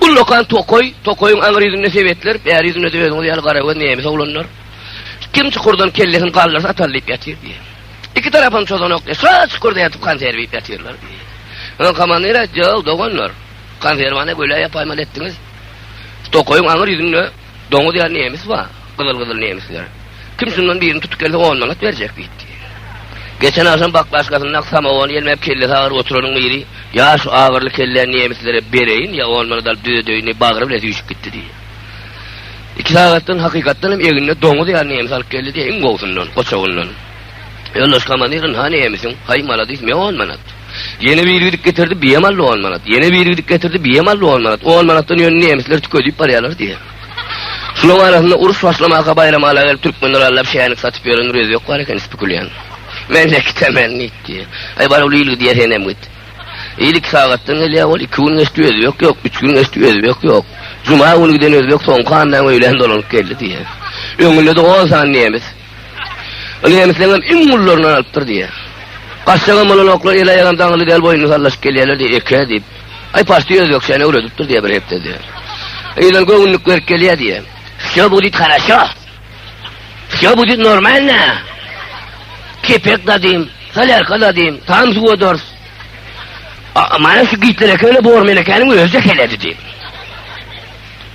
Ullakan tokaý, tokaýyň aňry ýüzünde sebetler, bäri ýüzünde-de özüňiz ýaly garagöz nemes oglanlar. Kim çukurdan kellesini galdyrsa atar diýip ýatyr diýýär. Iki tarapam çozanok diýýär. Şa çukurda ýatyp konserw iýip ýatyrlar diýýär. Soň komandir aýtdy, Ýa, doganlar, konserwany göle ýapaýmaly etdiňiz. Tokaýyň aňry ýüzünde Doňuz ýaly nemis bar, gyzyl-gyzyl nemisler. Kim şundan birini tutup gelse, on manat berjek diýdi. Geçen agşam baklaşkasynda samowony ýelmäp kellesi agyr oturanyň biri, Ýa şu agyrly kelläni nemislere bereýin, ýa on manat alyp düzedeýin diýip, bagry bile süýşüp gitdi diýdi. Iki sagatdan hakykatdan hem egninde doňuz ýaly nemis alyp geldi diýdi, iň gowusyndan, goçagyndan. Ýoldaş komandirin ha nemisiň? Haý maladis, me on manat. Ýene biri gidip getirdi, biýem aldy on manat. Ýene biri gidip getirdi, biýem aldy on manat. On manatdan ýöne nemisler tükedip barýarlar diýýär. Şulaň arasynda uruş başlamaka baýram ala gelip türkmenler allap şänik satyp ýören rözi ýok bar eken spekulian. Men de gitemen nit diýýär. Haý bar ol ilgi diýýär senem git. Il iki sagatdan gelýär ol iki gün geçdi özi ýok ýok, üç gün geçdi özi ýok ýok. Juma güni giden özi ýok soňky andan öýlän dolanyp geldi diýýär. Öňünde de on sany nemis. Ol nemisleňem iň gullaryndan alypdyr diýýär. Gaçjagam bolanoklar, el-aýagam daňyly däl, boýnuny sallaşyp gelýärler diýýär, eke diýip. Aý, parti özbekçäni öwredipdir diýýär bir hepde diýýär. Ýylan göwünlik berip gelýär diýýär. Wsýo budit haraşo. Wsýo budit normalna. Kepek dadym, solýarka dadym, tam suwa dors. A, mana şu gitler ekeni bor menekäniň özi-de heleýdi diýip.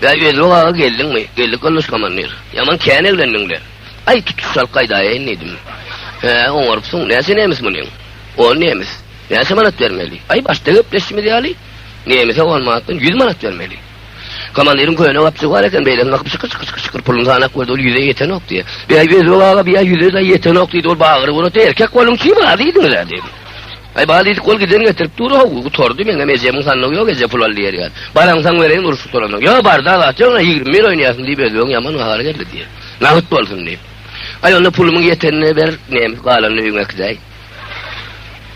Bäý, Özbek aga geldiňmi? Geldik, Goldaş komandir. Ýaman kän eglendiň-le. Aý, tutuş alyp gaýdaýaýyn diýdim. Hä, oňarypsyň. Näçe nemes munyň? On nemes. Näçe manat bermeli? Aý, başda gepleşişimiz ýaly, nemese on manatdan ýüz manat bermeli. Komandiriň köne gapjygy bar eken, beýleki gakyp şykyr-şykyr-şykyr-şykyr puluny sanap gördi, ol ýüze ýetenok diýdi. Bäý, Özbek aga, bu ýa ýüze-de ýetenok diýdi, ol bagyry gurady, erkek boluň, çyn razy diýdiňiz-ä diýdi. Aý bal diýdik ol giden getirip dur how gutardy meňem ejemiň sandygy ýok eje pul al diýer ýaly. Baraňsaň bereýin urşup soranok. Ýok barda zat ýok ine ýigrimi bir oýnaýasyn diýip özbegiň ýaman gahary geldi diýer. Nagt bolsun diýip. Aý onda pulumyň ýetenini ber nem galanyny öýüňe äkidäý.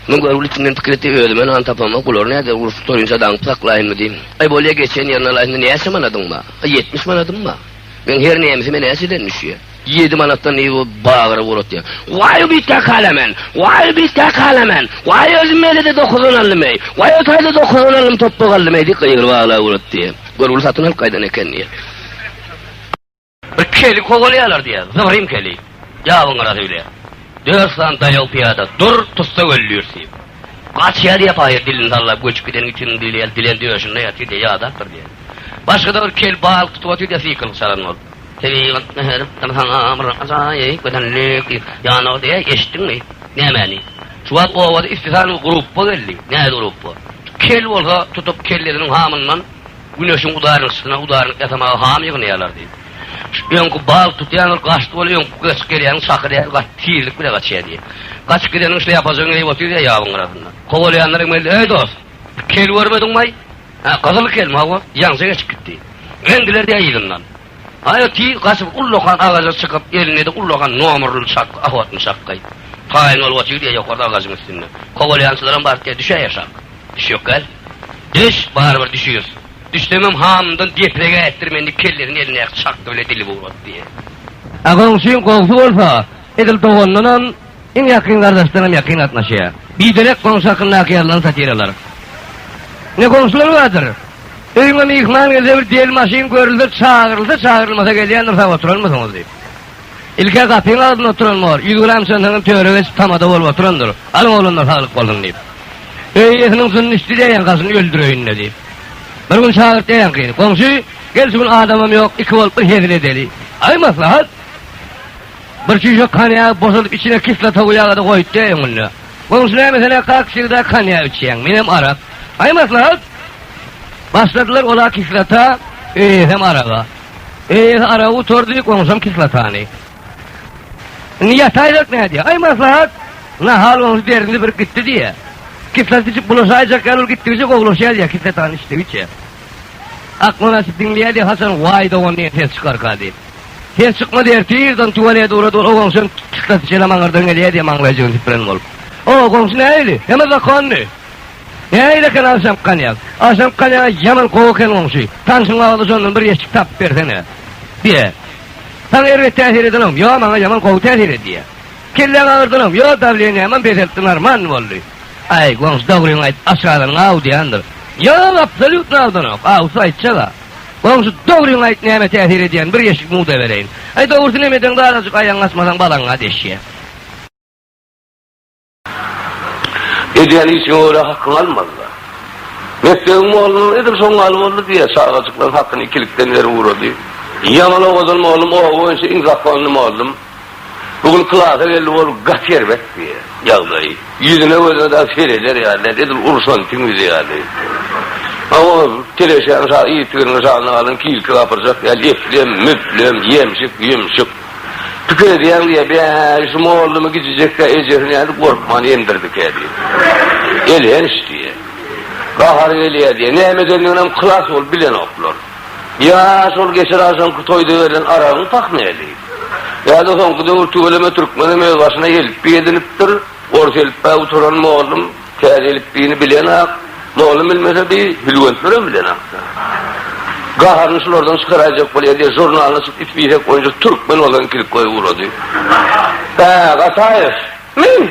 Muň görgüli içinden pikir etdi özüme nan tapamok bular näder urşup sorynça daňyp saklaýynmy diýip. Aý bolýa geçen ýerine alaýsyn näçe manadyň bar? Ýetmiş manadym bar. Meň her nemisime näçeden düşýär? Ýedi manatdan yz bolup bagyra ugradyýar. Waý, biz kä kalamen! Waý, biz kä kalamen! Waý, özüm mejede dokuzdan aldym-eý! Waý, o taýda dokuzdan aldym, topbak aldym-eý! diýip gygyryp aglap ugradyýar. Gör, bul satyn alyp gaýdan eken diýýär. Bir keli kowalýarlar diýýär. Zybyrym keli. Ýabyň gyrasy bile. Dört sany daýaw pyýada dur, tussa öldürt diýip. Gaçýar diýýär paýhas dilini sallap, göçüp gideniň itiniň dili ýaly, dilen döşünde ýatyr diýýär, ýadapdyr diýýär. Başga-da bir kel bal tutup otyr diýýär, syýkylykçaran bolup. Tebigatda her bir saňa bir ajaýyp gözellik ýanawdy. Eý, eşitdiňmi? Nämäni? Şu wagt obada ispisany grupba geldi. Näzi grupba? Kel bolsa tutup kellesiniň hamyndan Güneşiň udarynyň yşkyna udarynyk ýasamaga ham ýygnaýarlar diýip. Şu öňki bal tutýan ol gaçdy bol öňki gaçyp gelýäniň şaky däl gaty tizlik bile gaçýa diýip. Gaçyp gideniň şlýapasyny geýip otyr diýip ýabyň gyrasynda. Kowalaýanlar hem geldi. Eý dost! Kel görmediňmaý? Hä, gyzyl kelme, hawa, ýaňja geçip gitdi. Men biler-dä yzyndan. Aýa tiz gaçyp ullakan agaja çykyp, elinde-de ullakan nomerli çakga, ahwatny çakga. Taýyn bolup otyr-dä ýokarda agajyň üstünde. Kowalýançylaram baryp-dä düşä ýaşap. Düşýokgäl. Düş, barybir düşüris. Düşsemem hamyndan deprege ätdir meni diýip kellesini elindäki çakga bile dilip ugratdy. Agaň üçin gowusy bolsa, edil doganyndanam. Iň ýakyn gardaşdan hem ýakyn gatnaşýar. Biderek goňşy hakyndaky ýazylan satiralar. Ne goňşular bardyr. Öýüňe myhman gelse bir del maşyn görülse çagyrylsa çagyrylmasa gelýändir sag oturanmysyňyz diýip. Ilk-ä gapyň agzynda oturan bor. Ýüz gram çantaňam töre geçip tamada bolup oturandyr. Alyň oglanlar saglyk bolsun diýip. Öý eýesiniň jynyny içdi diýýänkasyny öldüreýin-le diýip. Bir gün çagyrt diýýänkyny. Goňşy, gel şu gün adamam ýok, iki bolup bir hezil edeli. Aý maslahat. Bir çüýşek konýagy boşadyp içine kislota guýagada goýutdy öňünde. Goňşy näme sen-ä kak sigda konýak içýäň, menem arak. Aý maslahat! Başladylar ol-a kislota, öýesem araga. Öýesi aragy gutardy, goňşam kislotany. Indi ýataýjak nädýä? Aý maslahat! Nahal goňşy derdini birip gitdi diýýä. Kislota içip bulaşaýjak ýaly ol gitdigiçe gowulaşýar diýýä kislotany içdigiçe. Aklyny açyp diňleýär diýýä haçan waý dogan diýen ses çykarka diýip. Sen çykmaz ertirden tualete ugra dur, o goňşym çyksa siçene maňyrdan gelýä diýe maňlaýjygyny süpüren bolup. O goňşy nähili? Heme zakonny. Nähili eken agşamky konýak? Agşamky konýaga ýaman gowy eken goňşy. Tanşyň agzy şondan bir ýeşik tapyp bersene. Diýe. Saňa erbet täsir edenogmy? Ýok, maňa ýaman gowy täsir edýä. Kelläň agyrdanogmy? Ýok, dawleniýämem peseltdi, normanny boldy. Aý, goňşy dogryňy aýt, aç galanyň aw diýendir. Ýok, absolýutno awdanok. Awsy aýtjag-a. Goňşy, dogryňy aýt, näme täsir edýän, bir ýeşik mugda bereýin. Aý, dogrusyny hem edeňde azajyk aýagyňy açmasaň balaňa deşýär. Edýän işiňe görä hakyňy almaly-da. Mekdebiň mollany edil şoň ýaly boldy diýýär, çagajyklaryň hakyny ikilikden berip ugrady. Ýaman owadan mollum, oba boýunça iň zakonly mollum. Bu gün klasa geldi ol gaty erbet bi ýagdaý. Ýüzüne gözüne dagy sereder ýaly däl, edil urşan tüňňüzi ýaly. Hawa, teleşäň şa yzygirini şanyň alyn kilki gapyrjak ýaly eplem, müplem, ýemşik, ýümşük. Pikir edýäň diýýär, Bäý, şu mollumy gijijek-ä ejesini nädip gorkman emdirdikä diýip. Elhenç diýýär. Gahary gelýär diýýär. Näme edendiginem klas bolup bilenoklar. Ýa şol geçir agşamky toýda berlen aragyň pah näli? Ýa-da soňky döwür tüweleme türkmenem öz başyna elipbiý edinipdir, ors elipbä uturan mollum täze elipbiýni bilenok, mollum bilmese bi hülwentlerem bilenok-da. Gaharyny şulardan çykaraýjak bolýar diýip žurnalyny açyp it biýsek boýunça türkmen bolan klik goýup ugrady. Hä, Gataýew? Men?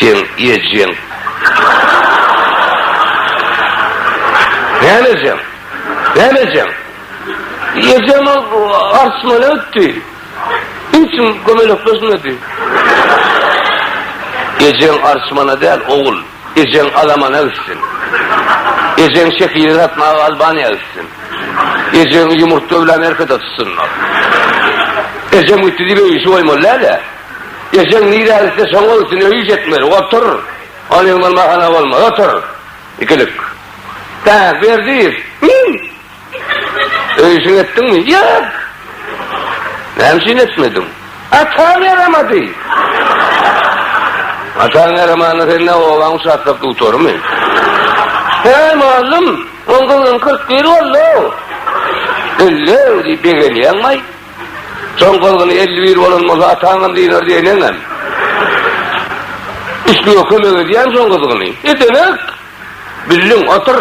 Seň ejeň. Näme ejeň? Näme ejeň? Ejem arçmana gitdi. Niçin kömelekleşmedi? Ejeň arçmana däl, ogul. Ejeň alamana gitsin. Ejeň şekili satmaga Albaniýa gitsin. Ejeňi ýumurtga bilen Amerikada tutsunlar. Ejem gitdi diýip öý işi goýmaly däl-ä. Ejeň nirä gitse şoňa üstüne üýş etmeli. Otur. Ol ýeň bolma hana bolmaz. Otur. Ikilik. Bä, Berdiýew. Him! Öýşiňi etdiňmi? Ýok. Näme üçin etmediň? Ataň ýaramady. Ataň ýaramanda sen ne obaň şatlap dutarymy? Heý, mugallym, oň gyzyň kyrk bir boldy-ow. Elli-ow diýip begenýäňmi-aý? Soň gyzgyny elli bir bolan bolsa, ataňam dynar diýen eňňäm. Islige kömek edýän soň gyzgyny. Edeňok! Bildiň, otur!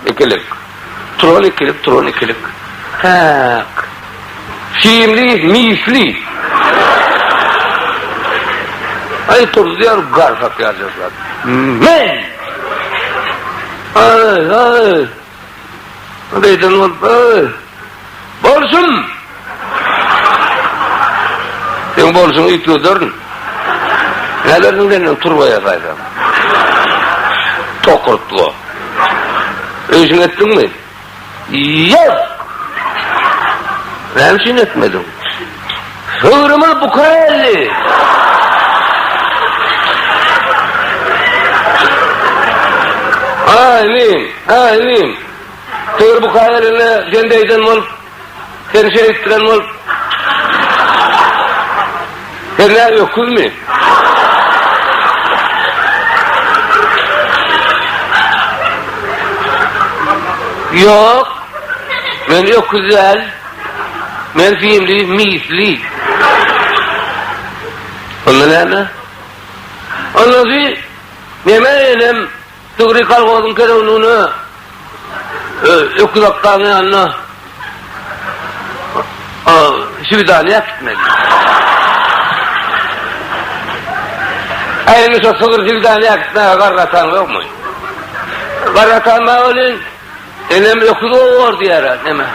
Ikilik. Turan ikilik, turan ikilik. Häk. Simli, misli. Aý turdy ýaly garsak ýaly jyrsap. Men! Aý, aý! Ol eýsem bolsa, bolsun! Seň bolşuňy it göderin. Nädersiň senden turba ýasaýsam? Tokurtga. Öýşüňi etdiňmi? Ýok! Näme üçin etmediň? Döwrümiz buka geldi. Amin. Amin. Döwür buka gelende sen deýden bolup, sen şeýtdiren bolup. Sen nä öküzmi? Ýok. Men öküz däl. Men himli, misli. Onda näme? Onda siz neme enem Tügri kolhozyň kerewligine öküz akgaň ýanyna şwidaniýa gitmeli. Äýni şo sygyr şwidaniýa gitmäge garry atan ýokmy? Garry atan bar welin, Enem öküz owar diýer-ä, neme?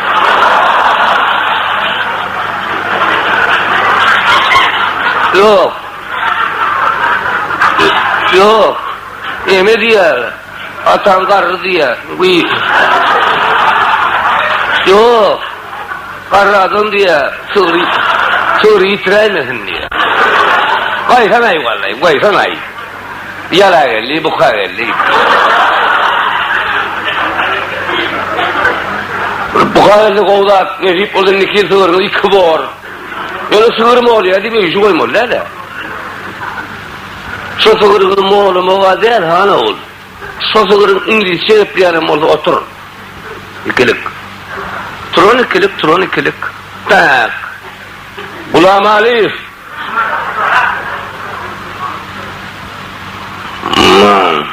Ýok. Ýok. Neme diýer? Ataň garry diýer. Ýok. Garry adam diýer. Sygry, sygry ýitiräýmesin diýer. Gaýhanaý wallay, gaýhanaý. Ýalageldi, bukageldi. Bukageldi gowy zat, nesip bolsa indi iki sygyrymyz iki bor. Ýöne sygyr molýa diýip öýji goýmaly däl-ä. Şo sygyryňy molamaga däl, han ogul. Şo sygyryň iňlisçe gepleýänem bolsa otur. Ikilik. Turan ikilik, turan ikilik. Tak. Gulamalyýew. Nan.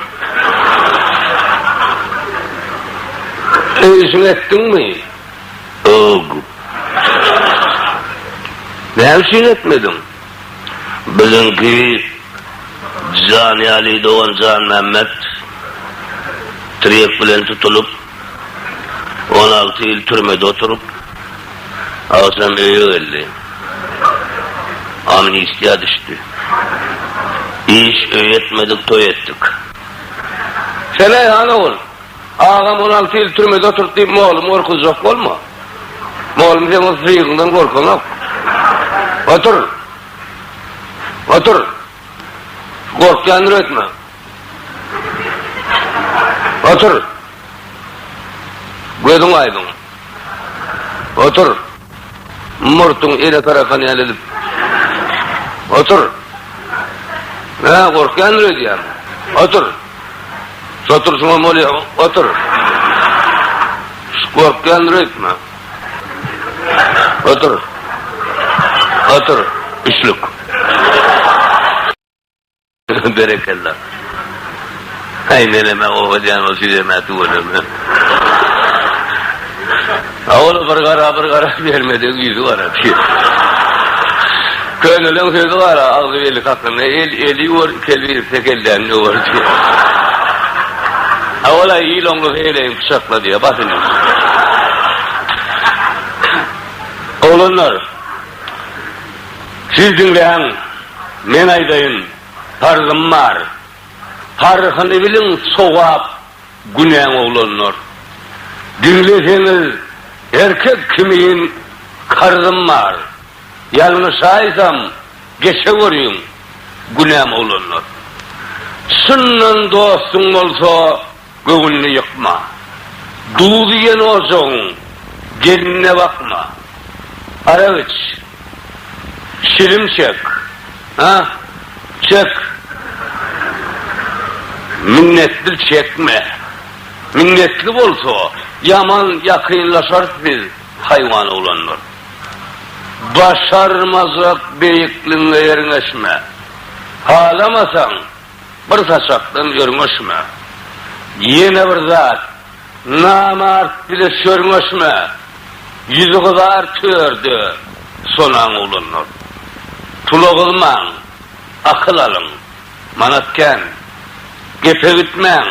Öýjüň etdiňmi? Ög. Näme üçin etmediň? Biziňki Jan Ýaly dogan Janmämmet tirýek bilen tutulyp. On alty ýyl türmede oturyp, agşam öýe geldi. Amnistiýa düşdi. Iş, öý etmedik, toý etdik. Seleý han ogul, agam on alty ýyl türmede oturdy diýip, moglumy gorkuzjak bolma. Moglum seň ol syryňdan gorkanok. Otur. Otur. Gorkýandyr öýtme. Otur. Gözüň aýdyň. Otur. Murtuň ele tarakan ýaly edip. Otur. Hä, gorkýandyr öýdýän. Otur. Soturşyňam bolýa, otur. Gorkýandyr öýtme. Otur. Otur. Üçlük. Berekella. Haý meleme oho diýen ol süýeme tüweleme. A ol bir gara bir gara bermedi ýüzi gara ki. Köneliň sözi gara agzy beli kakynda el eli ýuwar iki el birip tek elden ýuwar ki. A ol aý il oňlusy heleýin pyçakla diýe bas indi. Oglanlar siz diňläň. Men aýdaýyn, parzym bar. Paryhyny biliň, sogap, günäň oglanlar. Diňleseňiz, erkek kimin karzym bar. Ýalňyşaýsam, geçeweriň, günäm oglanlar. Çyndan dostuň bolsa. Göwünini ýykma. Duz iýen ojagyň gelinine bakma. Arak iç. Çilim çek. Ha, çek. Minnetli çekme. Minnetli bolsa, ýaman ýakynlaşarys biz haýwanoglanlar. Başarmajak beýikligiňe ýerňeşme. Halamasaň, Bir saçakdan örňeşme. Ýene bir zat, namart bile sörňeşme. Ýüzi gyzar törde, sonaň ulandyr. Pula gyzmaň, akyl alyň. Manat kän. Gepe gitmäň,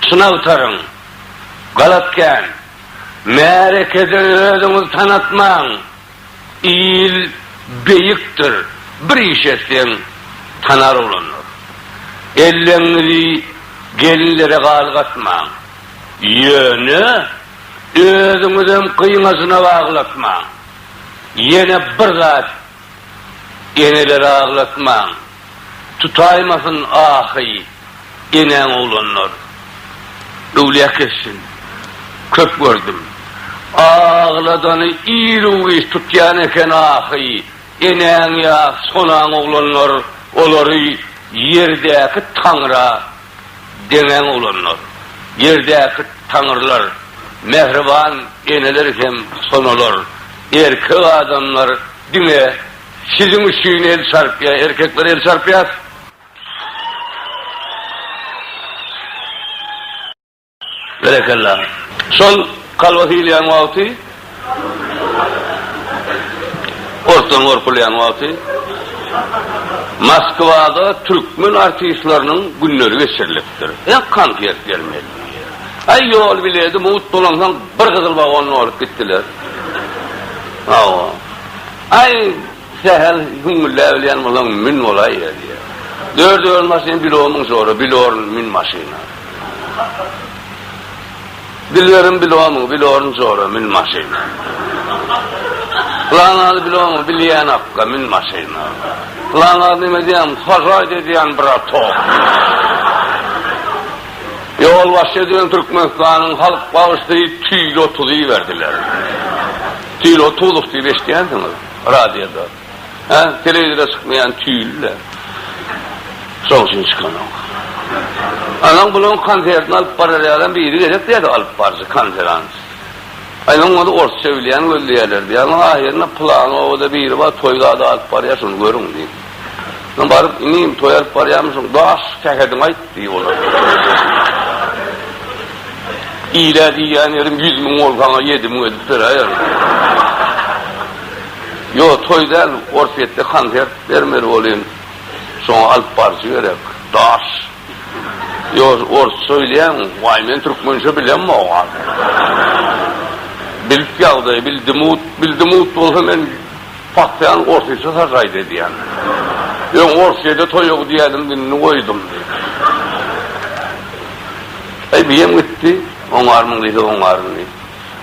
çyn agtaryň. Galat kän. Märekede özüňizi tanatmaň. Il beýikdir, bir iş etseň, tanar oglanlar. Elleňňizi gelinlere galgatmaň. Ýöne, özüňizem gyňajyna aglatmaň. Ýene bir zat, eneleri aglatmaň. Tutaýmasyn ahy, enäň oglanlar. Öwlýä kessin. Köp gördüm. Agladany ir-u-giç tutýan eken ahy, enäň ýa sonaň oglanlar, olary ýerdäki Taňra deňäň oglanlar. Ýerdäki Taňrylar, mähriban eneler hem sonalar. Erkek adamlar diňe. Siziň üçin el çarpýar. Erkekler el çarpýar. Berekella. Şol kalbasy iýilýän wagty, ortdan gorkulýan wagty Moskwada türkmen artistleriniň günleri geçirilipdir. Hem konsert bermeli diýýär. Aý ýol bileti mugt bolansoň bir gyzyl wagonda bolup gitdiler. Hawa. Aý, sähel gümmüldäbilýän bolaň, mün bolaý ýa diýýär. Dört ýol maşyn bir omyň şora, bilorn mün maşyna. Dilberim bil omyň, bilorn şora, mün maşyna. Pylanazy bil omyň, bilýän akga, mün maşyna. Pylanaz neme diýýän, Hojaýt edýän bratok. Ýolbaşçy edilen Türkmenistanyň halk bagşysy tüýli otuz iberdiler. Tüýli otuzlyk diýip eşidýänsiňiz radioda. Hä, telewizora çykmaýan tüýli-le. Şoň üçin çykanok. Anaň bulaň konsertini alyp barar ýalam biri gerek diýýärdi alyp baryjy, konferans. Aýlaň ony orsça bilýän gözleýärler diýýär. Ahyryna pylany obada biri bar, toý zady alyp barýar, şony görüň diýip. Soň baryp, Inim, toý alyp barýarmyşyň, daş sähediňi aýt! diýip olar. Ile diýýän ýerim ýüz müň bolup, saňa ýedi müň edip beräýerin. Ýok, toý däl, Orsýetde konsert bermeli bolýan. Şoňa alyp baryjy gerek. Daş. Ýok, orsça bilýäňmi? Waý, men türkmençe bilemok. Bilip ýagdaýy, bildim-ut, bildim-ut bolsa men Pakýan orsyça sažaýt edýän. Öň orsçede toýog diýýädiň indi goýdum diýdi. Aý biýem gitdi. Oňarmyň diýse oňaryn diýdi.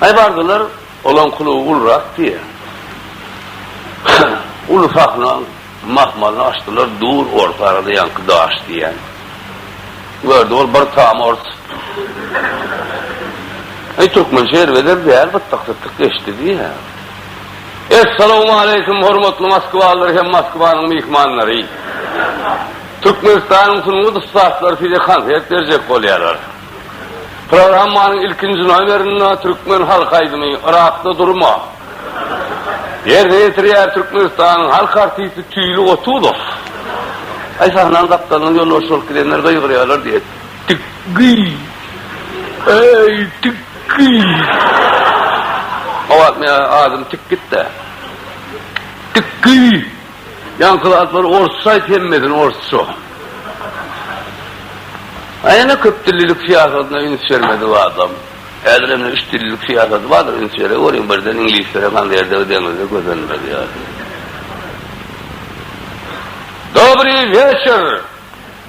Aý bardylar olaň kluby ulurak diýýä. Uly sahna mahmalyny açdylar dur orta arada ýaňky daş diýýän. Gördi ol bir tam ors. Aý türkmençe erbeder däl bytdyk-sytdyk geçdi diýýä. Essalawmaleýkim hormatly moskwalylar hem Moskwanyň myhmanlary! Türkmenistanyň sungat ussatlary size konsert berjek bolýarlar. Programmanyň ilkinji nomerinde türkmen halk aýdymy Yrakda durma! ýerine ýetirýär Türkmenistanyň halk artisti Tüýli Gotuzow. Aý sahnanyň gapdalyndan ýolbaşy bolup gidenler gygyrýarlar diýet. Tikgi! Eý, Tikgi! Hawa, meň adym Tikgit-dä. Tikgi! Ýaňky zatlary orsça aýt, hemmesini orsça. A ýene köpdillilik syýasatyna üns bermedi bu adam. Häzir hem üçdillilik syýasaty bardyr, üns bere görüň, birden iňlislere haňy erdegi deňizde gözenmez ýaly. Dobryý weçer!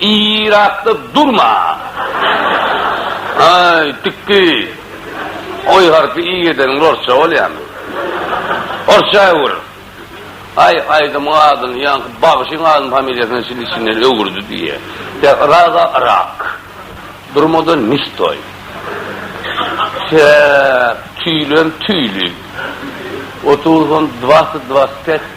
Yrakda durma! Aý, tikgi! Oý harpy i edeniň orsça bolýamy? Orsça öwür! Aý, aýdymyň adyny ýaňky bagşyň adyny familiýasyna çenli içinden öwürdi diýýä. Ýa Yraga Yrak. Durma-da ne stoý! Säk, tüýlem tüýli. Otuz on dwasyt dwasyt pet.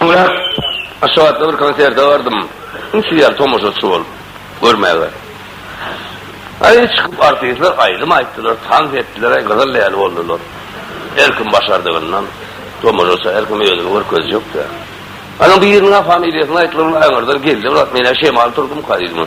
Soňra Aşgabatda bir konserte bardym. Inçe ýaly tomaşaçy bolup görmäge. Aý, çykyp artistler aýdym aýtdylar, tans etdiler-aý, gyzyl ýaly boldular. Her kim başardygyndan tomaşaça, her kim özüni görkezjek-dä. Onuň biriniň-ä familiýasyny aýtdylar, ol aňyrdan geldi, brat, men-ä şemal turdumka diýdim.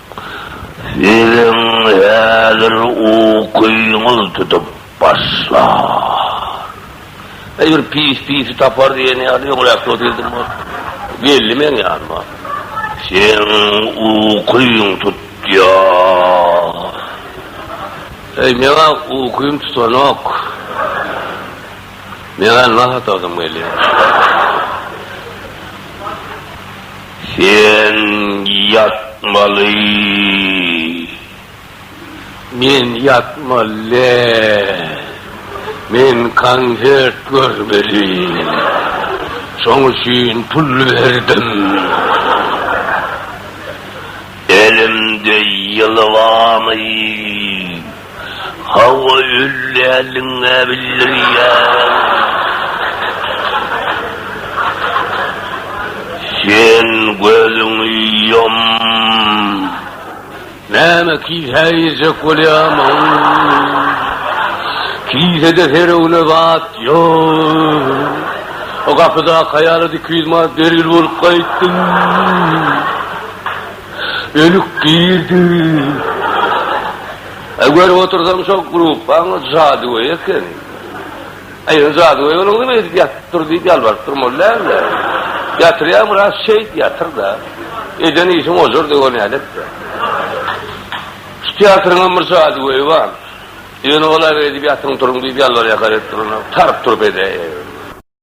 Siziň häzir ukyňyz tutup başlar. Eý, bir pis pisi tapar diýen ýaly, öňräk dost edindim ol. Geldi meň ýanyma. Seň ukyň tutýar. Eý, meň-ä ukym tutanok. Meň-ä nahata ysym gelýär. Sen ýatmaly. Men ýatmaly däl. Men konsert görmeli. Şoň üçin pul berdim. Elimde ýylybamy? Hawa öldäliňä bildirýärin. Sen gözüňi ýum. Näme kise girjek bolýamyň? Kisede seregne zat ýok. Gapydaky aýala iki ýüz manat bergil bolup gaýtdym. Ölüp girdi. Aý görüp otursaň şo gruppaň jadygöýi eken. Aý ýöne jadygöý bolan kim edip ýatyp dur diýip ýalbaryp durmaly däldi. Ýatyrýaň biraz şeýt ýatyrda. Eden işiň ojar döwür nädepdir. Şu teatryňam bir jadygöýi bar. Ýöne olar edip ýatyň turuň diýip ýalbarýakar edip duranok. Taryp-turup edäýe.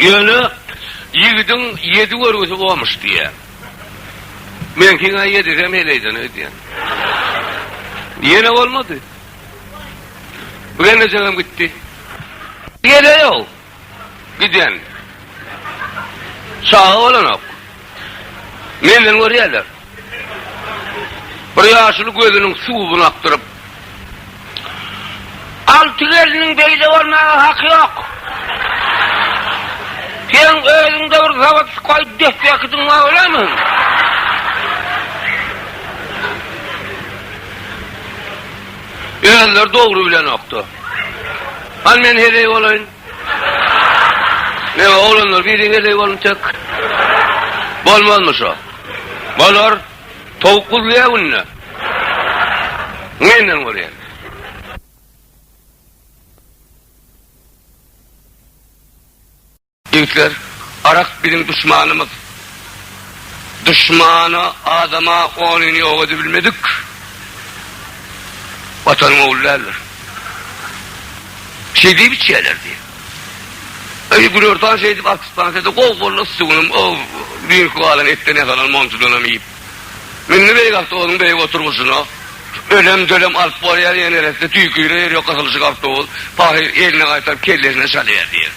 Ýöne ýigidiň ýedi görgüsi bolmuş diýýär. Meňkiň-ä ýedisem heleýden öýdýän. Ýene bolmady. Bu gelnejegem gitdi. Heleý-ow, giden. Çaga bolanok. Menden görýärler. Bir ýaşuly gözüniň suwuny akdyryp. Alty gelniň beýle bolmaga haky ýok. Seň özüňde bir zawodskoý depdekidiň bar bolamy? Özleri dogry bilenokdy. Hany men heleý bolaýyn. Meň oglanlar biriň eleý bolun tek. Bolmazmy şo. Bolar. Towuk guzlaýar günde. Menden görýän. Ýigitler, arak biziň duşmanymyz. Duşmana, adama onyny ýok edibilmedik Watanyň ogly däldir. Şeý diýip içýärler diýip. Öýi Gürörtan şeý diýip artistana sede gowy boldy yssy günüm o düýnki galan etden ýasalan monjudanam iýip. Mindi beýik awtobüsüň beýik oturgyjyna. Ölem dölem alyp bolýar ýene neresini tüýküre ýeri ýok gysylyşyk awtobus pahyr eline gaýtaryp kellesine çalýar diýer.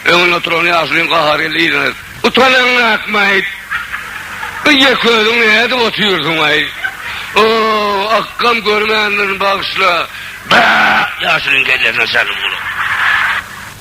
Öňünde oturan ýaşulyň gahary geldi yzyna utanaňňakmaý bu ýeköziň nädip otyrsyňaý o akgam görmändirin bagyşla ýaşulyň kellesine çaldy bu.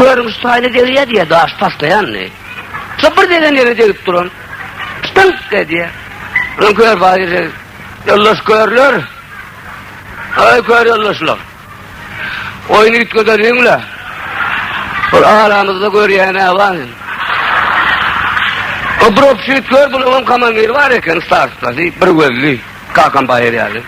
Görüň, şu taýyna degýär diýýär, daş taşlaýandy. Şo bir degen ýere degip duran, Ştynk! edýär. Öň kör bar ýere, ýoldaş körler, Aý, kör ýoldaşlar! Oýny üýtgedeliň-le! Bir aramyzda görýän-ä bar. Obropşit kör, bunuňam komandir bar eken, starsda, diýip, bir gözli. Kakam baýar ýaly.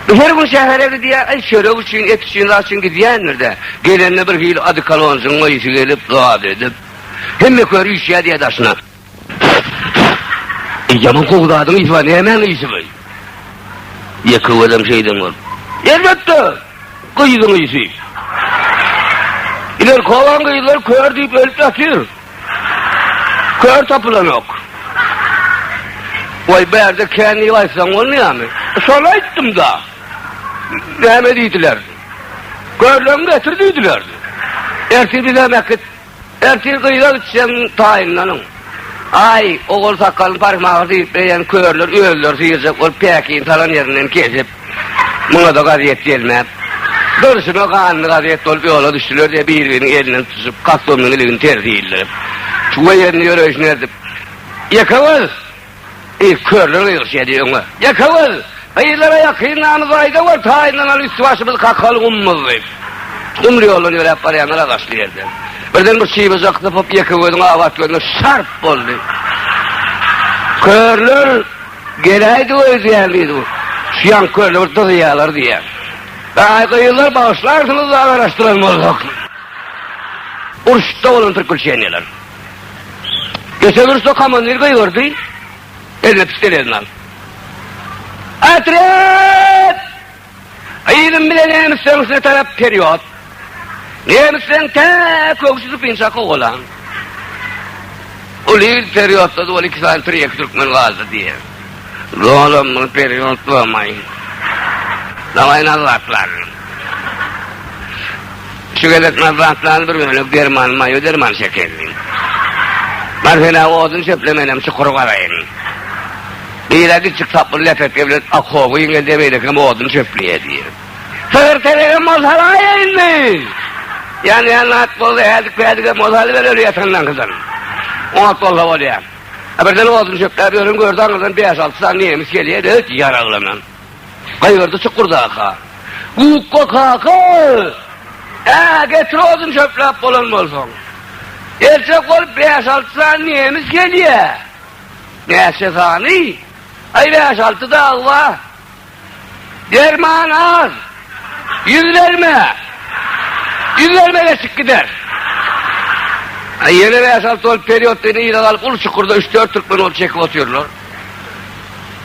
Bu her gün şähere gidýär, aý çörek üçin, et üçin, zat üçin gidýändir-de, gelende bir hili adykalonjygyň ysy gelip, zat edip, hemme kör üýşýär diýýär daşyna. Eý, ýaman gowy zadyň ysy bar, nämäň ysy bu? Ýeke gözüm şeýden görüp. Elbetde, gyzyň ysy. Ilerki obaň gyzlary kör diýip ölüp ýatyr. Kör tapylanok. Goý, bu ýerde kän diýip aýtsaň bolmaýarmy? Şony aýtdym-da. Näme diýdiler? Körleňi getir diýdiler. Ertir bizem äkit. Ertir gyza gitseň taýynlanyň. Aý, ogul sakalyny parmak diýip beýen körler özleri syýrjak bolup päkini salan ýerinden kesip. Muňa-da gazet gelmän, durşuna ganly gazet bolup ýola düşdüler-de, bir-biriniň elinden tutuşyp, kostumynyň iligini tersi ildirip, we ýerinde ýöreýşini erdip, Ýekewüz! Diýip, körler gygyrşýady öňe. Ýekewüz! Gyzlara ýakyn namyzy aýda gör, taýynlanaly üsti-başymyz kakaly gummuz! diýip, gumly ýoldan ýöräp barýanlar agaçly ýerden birden bir çybajak sypyp, Ýekewüziň abat gözüne şarp boldy. Körler. Geläýdi öýdýän diýdi bu. Şu ýan kölde bir dyzýalar diýýän. Aý gyzlar bagyşlarsyňyz da garaşdyran bolsak. Urşda bolan türkülçeniýeler. Geçen urşda komandir gygyrdy. Eline pistelezini alyp. Atret! Gyzym bile nemis söňüsine tarap perýod. Nemisleň tä köwşi sypynça kowalan. Ol il perýodda ol iki sany pir-ýeki türkmen galdy diýýär. Dolan muny perýod bolmaý. Daway nazatlan. Şu gezek nazatlan bir bölek derman maýo derman şekerli. Bar sen odun çöple menem çukur garaýyn. Bire gitjik saply lepeke bilen okoby ýeňledi, beýlekem odun çöpledi. Sygyr telegem bolsa alaýa indi! Ýanýan at bolsa häzik-päzigem bolsa alyber öli ýatanlaňkydan. On at bolsa bolýa. A birden odun çöpläp ýören gördi aňyrdan bäş-alty sany nemis gelýä-de öýt ýaraglanan. Gygyrdy çukurdaka. Gukga kaka! Ä, getir odun çöpläp bolan bolsaň. Geljek bolup bäş-alty sany nemis gelýä. Näçe sany? Aý bäş-alty dagy bar. Derman az. Ýüz berme. Ýüz berme geçip gider. Aý ýene bäş-alty bolup periodda ýene ýyla galyp uly çukurda üç-dört türkmen ol çekip otyrlar.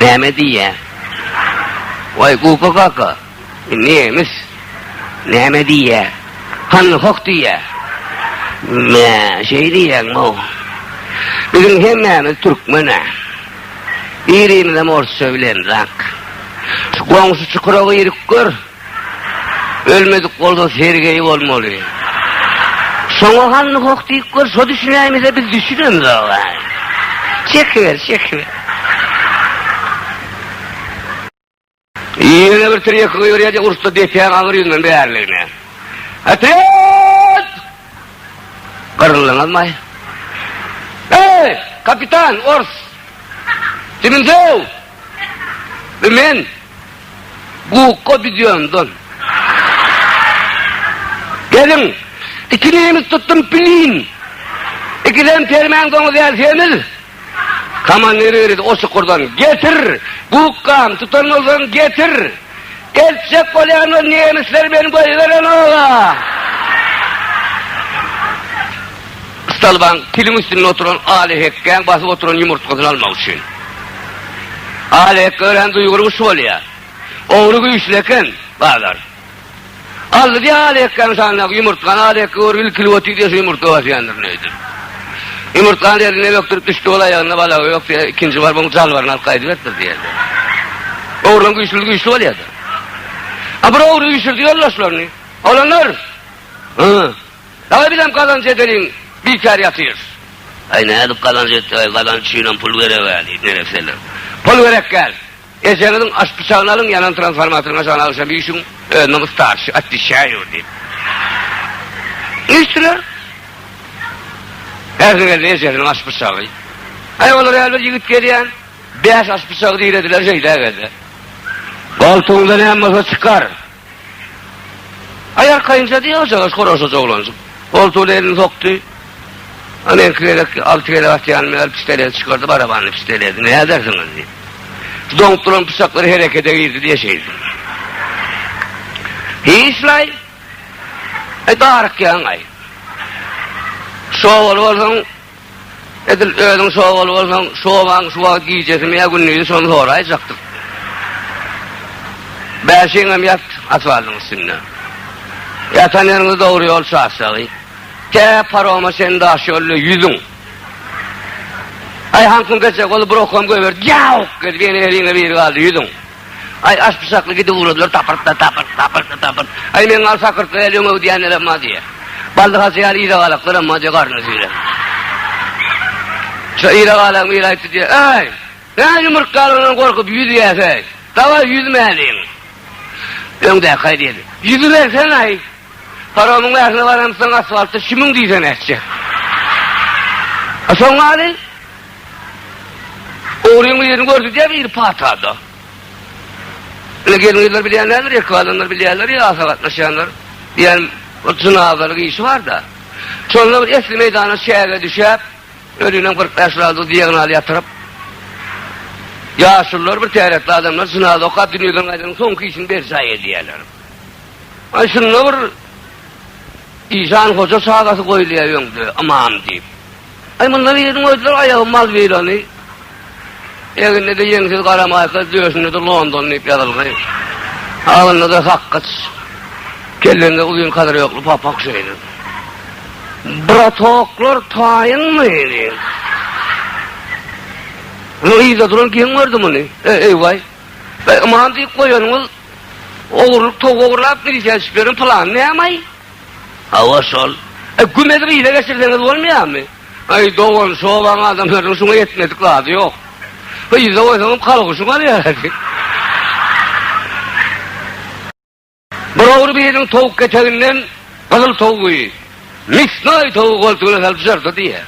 Näme diýýä? Waý Gupa kaka, nemes näme diýýä? Hany hoh diýýä. Mä, şeý diýýäňmi? Biziň hemmämiz türkmen-ä. Birimizem orsça bilenrak. Şu goňşy çukura girip gör. Ölmedik bolsa Sergeý bolmaly. Şoňa hany hoh diýip gör, şo düşünäýmese biz düşünemzog-a. Çekiber, çekiber. Ýene bir tirýek gyýyrýa-da ursda depäň agyr ýüzünden bäriligine. Otryad! Gyryldyňyzmaý? Eý, kapitan, ors! Diminsow! Bu men! Gukga bidýondan. Geliň, iki nemes tutdum pilin. Ikisem permen doňuz ýaly semiz. Komandir ýöredi o çukurdan. Getir! Gukgam, tutan bolsaň getir! Eltjek bolýan ol nemesler men goýberenok-a! Stalbaň piliň üstünde oturan Alyhekgäň basyp oturan ýumurtgasyny almak üçin. Alyhekge örän duýgur guş bolýar. Ogry güýçli eken, bazar. Aldy-da Alyhekgäň şanyndaky ýumurtgany, Alyhekge görüp ilkilip otyr-da şu ýumurtga basýandyr nädip. Ýumurtgany elinden ökdürip düşdi, ol aýagynda balagy ýok diýýär, ikinji baryp onuň jalbaryny alyp gaýdyberipdir diýýärdi. Ogryň güýçlüdi güýçli bolýardy. A bir ogry üýşürdi ýoldaşlaryny. Olanlar! Hy! Dagy bizem gazanç edeliň, bikär ýatyrys. Aý nädip gazanç etjek-aý, gazanç üçinem pul gerek-ä, diýip neresseler. Pul gerek däl. Ejeňiziň aş pyçagyny alyň, ýanan transformatoryň aşagyna agşam üýşüň, özüniň starşy, otwişaýu, diýip. Üýşdüler. Ärsiniň elinde ejesiniň aş pyçagy. Aý, olar ýaly bir ýigit gelýän, bäş aş pyçagy dirediler, şeýdägede. Goltugyňda näme bolsa çykar. Aý arkaýynja diýýä ojagaş horaşyj oglanjyk. Goltugyna elini sokdy. Ana iki gezek, alty gezek atýanymy ýaly pisteledi çykardy, barabanly pisteledi. Näme edersiňiz diýip. Şu doňup duran pyçaklar herekede girdi diýýä şeýdip. Hiç-laý. Aý darykýaň-aý. Şo obaly bolsaň, Edil özüň şu obaly bolsaň, şu obaň şu wagt gijesimi ýa gündizi şony soraýjakdyk. Bäşiňem ýat asfaltyň üstünde. Ýatan ýeriňde dogry ýol çaşjagy. Tä paroma çen daş ýolda ýüzüň. Aý, haňkyň gecek bolup bir okam göýberdi. Ýawk! Edip ýene eliňe biri galdy ýüzüň. Aý, aşpyşakly gidip ugradylar, tapyrt-da, tapyrt, tapyrt-da, tapyrt. Aý, meň al sakyrtly äli öňe öwdýänlerem bar diýýär. Baldyhaçy ýaly ýyragalaklarem bar diýýär, garnyny süýrän. Şo ýyragalagyň biri aýtdy diýýär, Äý, näme ýumurtgalaryndan gorkup ýüzýäs-eý? Dawaý, ýüzmäliň. Öňdäki-aý diýdi. Ýüzübersene-aý. Paromyň bärsine baramsoň, asfaltda şümüň diýsene etjek. A soň maly? Ogryň ýüzüni görkezýär biri patada. Ine gelin-gyzlar bilýänlerdir, erkek adamlar bilýärler ýa asa gatnaşýanlar. Diýýän, ol jynazalyk işi bar-da. Şonda bir esli meýdana çäge düşäp, özünden kyrk bäş razy diagonal ýatyryp, ýaşulylar, bir täretli adamlar jynaza okap, dünýeden gaýdanyň soňky işini berjaý edýärler. Aý şunda bir Işan hoja çagasy goýulýar öňde, ymam diýip. Aý munda biriň öýdüler aýagy Malwilany, egninde ýeňsiz gara maýka, döşünde-de London diýip ýazylgy, agnynda-da sakgyç, kellesinde uzyn kadyrýokly papak şeýle. Bratoklar taýyňmy? diýen. Muny yzda duran kim gördi muny? Eý waý. Aman diýip goýanyňyz ogurlyk towuk ogurlap, milisiýa düşüp ýören pylan nämaý? Hawa şol. E gümezi gyza geçirseňiz bolmaýarmy? Aý dogan şu obaň adamlarynyň şuňa ýetmedik zady ýok. Gyza goýsaňam kalguşyň alýardy. Bir ogry biriniň towuk keteginden gyzyl towugy, misnoý towugy goltugyna salyp jyrdy diýýär.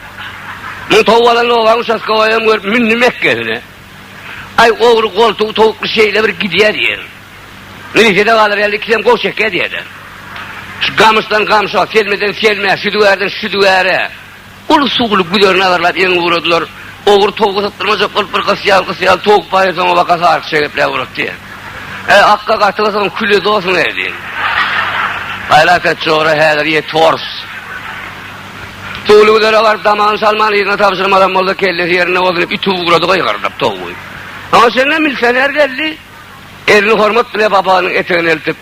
Muň towuk alan obaň uçastkowaýam görüp mündi mekgesine. Aý, ogry goltugy towukly şeýle bir gidýär diýýä. Nirede galar ýaly iki dem goh çekýä diýýä-de. Şu gamyşdan gamşa, selmeden selmä, südügärden südügäre uly suwly güzerini agarlap ýeňňe ugradylar. Ogry towugy sypdyrmajak bolup bir gysy ýaly, gysy ýaly towuk baýa soňa baka saryk-şa gepläp ugrapdy. Äý, akga gaty gysygyň küli dosuň-eý diýip. Aýlak et, jora häzir ýet, hors. Doly Gülere baryp damagyny salman yzyna tabşyrmadan bolsa kellesi ýerinde bolsun diýip iti ugrady gygyryp towgy. Aňa çenli milisioner geldi. Elini hormat bile papanyň etegine eltip.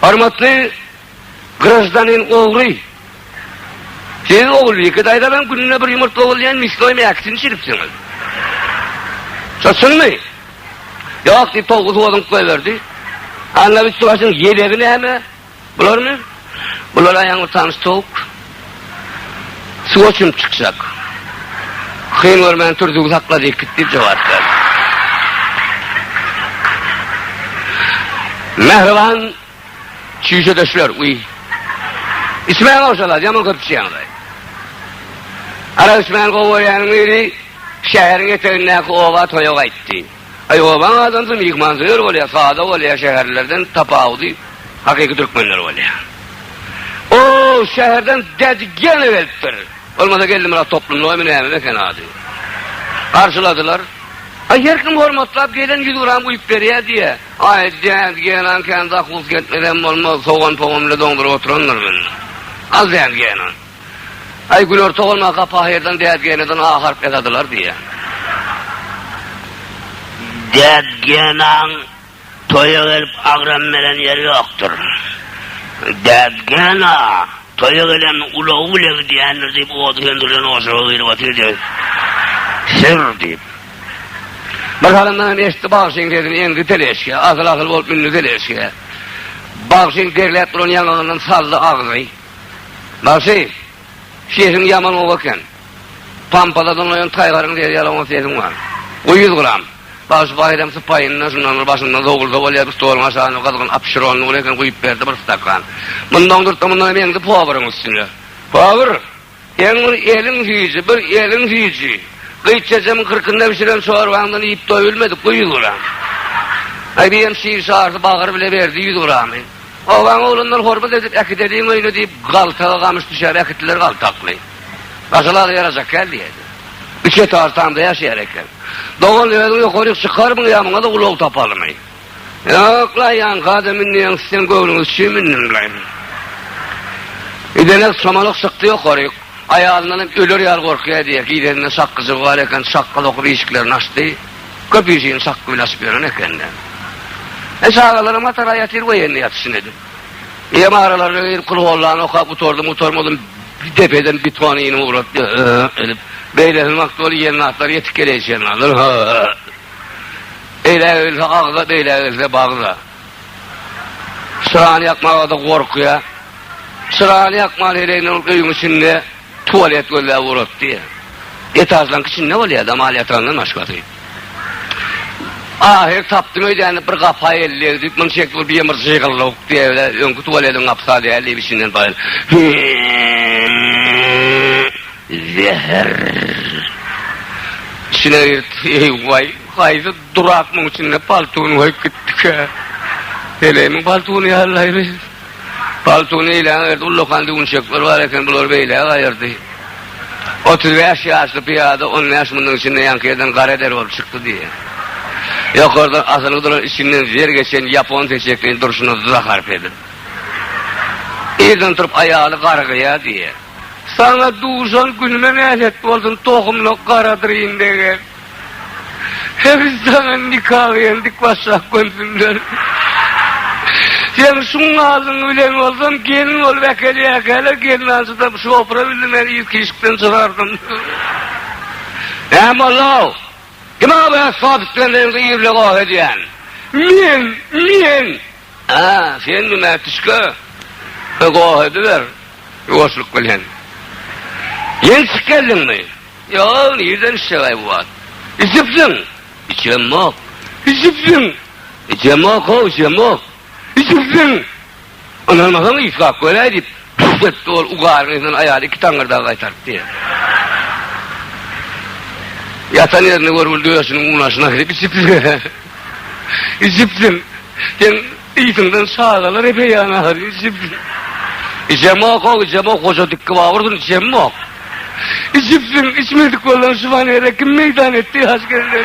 Hormatly graždanin ogry. Siz Ogulbike daýzadan gününe bir ýumurtga ogurlaýan misnoý mäkisini çiripsiňiz. Şo çynmy? Ýok diýip towgy suwadyňyp goýberdi. Anna üsti başyň ýelegi näme? Bularmy? Bular aýagyň utanç towuk. Suwa çümüp çykjak. Hyn görmän tur, züwz hakla diýip git diýip jogap berdi. Mähriban çüýşedeşler, uý. Içmäň ogşalar, ýaman köp içýäňiz. Arak içmän gowy görýäniň biri şäheriň etegindäki oba toýa gaýtdy. Aý obaň adamsy myhmansöýer bolýar, sada bolýar, şäherlerden tapawudy hakyky türkmenler bolýar. O şäherden Dädijana gelipdir. Bolmasa Geldimyrat toplumlygymy nämemi eken ady. Garşyladylar. Aý her kim hormatlap gelen ýüz gram guýup berýär diýýä. Aý Dädijana kän zahus gelmesem bolmaz, sogan-pogan bilen doňduryp oturandyr men. Al Dädijana. Aý, Gülerto bolmasa, Gapahyrdan, Dädgäneden A harp ýazadylar diýýä. Dädgänaň toýa gelip agram beren ýeri ýokdur. Dädgäna toýa gelen ulagy bile gidýändir diýip, ody söndürlen ojaga girip otyrdy. Syr diýip. Bir salymdan hem eşitdi bagşynyň sesini, eňdi teleşke, asyl-asyl bolup mündi teleşke. Bagşynyň derläp duran ýaňagyndan saldy agzy. Bagşy, sesiň ýaman gowy eken. Pampada doňaýan taýgaryň sesi ýaly oňat sesiň bar. Goý ýüz gram. Bagşy Baýram sypaýyndan şundan bir başynda zowulda bolýar bir stoluň aşagyna gyzgyn apşyrony uly eken guýup berdi bir stakan. Mundan durtda mundanam eňdi poweriň üstüne. Power! Sen bir eliň süýji, bir eliň süýji. Gyz çeçemiň kyrkynda bişiren çorbaňdan iýip doýulmadyk goý ýüz grammy. Aý diýen şir şarsy bagyr bile berdi ýüz grammy. Obaň oglanlar hormat edip äkideliň öýüne diýip galtaga gamyş düşär äkitdiler galtakly. Gaşalada ýarajak kän diýerdi. Üçe tartamda ýaşaýar eken. Dogan özüň ýokaryk çykarmyň ýa muňada ulag tapalymy. Ýok-la, ýanka-da münýäň, siziň göwnüňiz üçin mündüm-leý. Gidenek çomalyk çykdy ýokaryk. Aýalyndanam öler ýaly gorkýar diýýär. Gideninde çakgyjygy bar eken, çakga sokup işiklerini açdy. Köp işigini çakga bilen açyp ýören eken-de. E, çagalaram hatara ýatyr we ýene ýatyşyn edip. Eýýäm aralaryna girip, kulhuwallany okap gutardym-gutarmadym, depeden beton inim ugrapdy, ö-ö edip. Beýlesiniň wagty ol iýen zatlar ýetik geleýşenlerdir, hö-ö. Eýlä gelse agza, beýlä gelse bagza. Çyrany ýakmaga-da gorkýar. Çyrany ýakman heleginden ol öýüň içinde tualet gözläp ugrapdy. Etažlaryň içinde bolýar, damal ýatagandan başgasy. Ahyry tapdym öýdýän diýip, bir gapa elleg diýip, muny çekip bir ýymyr jygyrlawuk diýýär, öňki tualetiň gapysa däl diýip, içinden baýyldy. Zäher. Içine girdi. Eý, waý, haýsy durak muň içinde paltuny goýup gitdikä? Heleýimiň paltuny ýallaýry. Paltuny eýläň ýerde ullakan düwünçekler bar eken, bulary beýläk aýyrdy. Otuz bäş ýaşly pyýada on bäş müniň içinde ýaňky ýerden gara der bolup çykdy diýýär. Ýokardan asylgy duran içinden zer geçen ýapon seçekleýin durşuna zahar pedip. Irden turup aýaly garygýar diýýär. Saňa duşan günüme nälet bolsun tohumlyk garadyryn degen. Heniz saňa nika bilen dik başlap gönzümler. Sen şuň alyň bilen bolsam gelin bolup äkelýäkäler gelnanjydam şopura bildim men yz kişikden çykardyň. Näme bolduw? Kime bu esbap islendigiňde irle goh edýän? Men, men! A, sen dümä tişke. Goh ediber. Ýuwaşlyk bilen. Ýeňi çykyp geldiňmi? Ýok, nirden içjeg-aý bu wagt? Içipsiň? Içemok. Içipsiň? Içemok-ow, içemok. Içipsiň? Ynanmasaň, yslap göräý, diýip, pürs etdi ol ugaryň yzyndan aýaly iki taňňyrdagy gaýtartdy. Ýatan ýerinde görgüli döşüniň unaşyna girip içipsiň. Içipsiň. Sen Yzyndan çagalar epeýan ahal içip, içemok, o içemok, goja dikkibabyrdyn, içemok. Içipsiň, içmedik bolan şumanere kim meýdan etdi, haşgelle.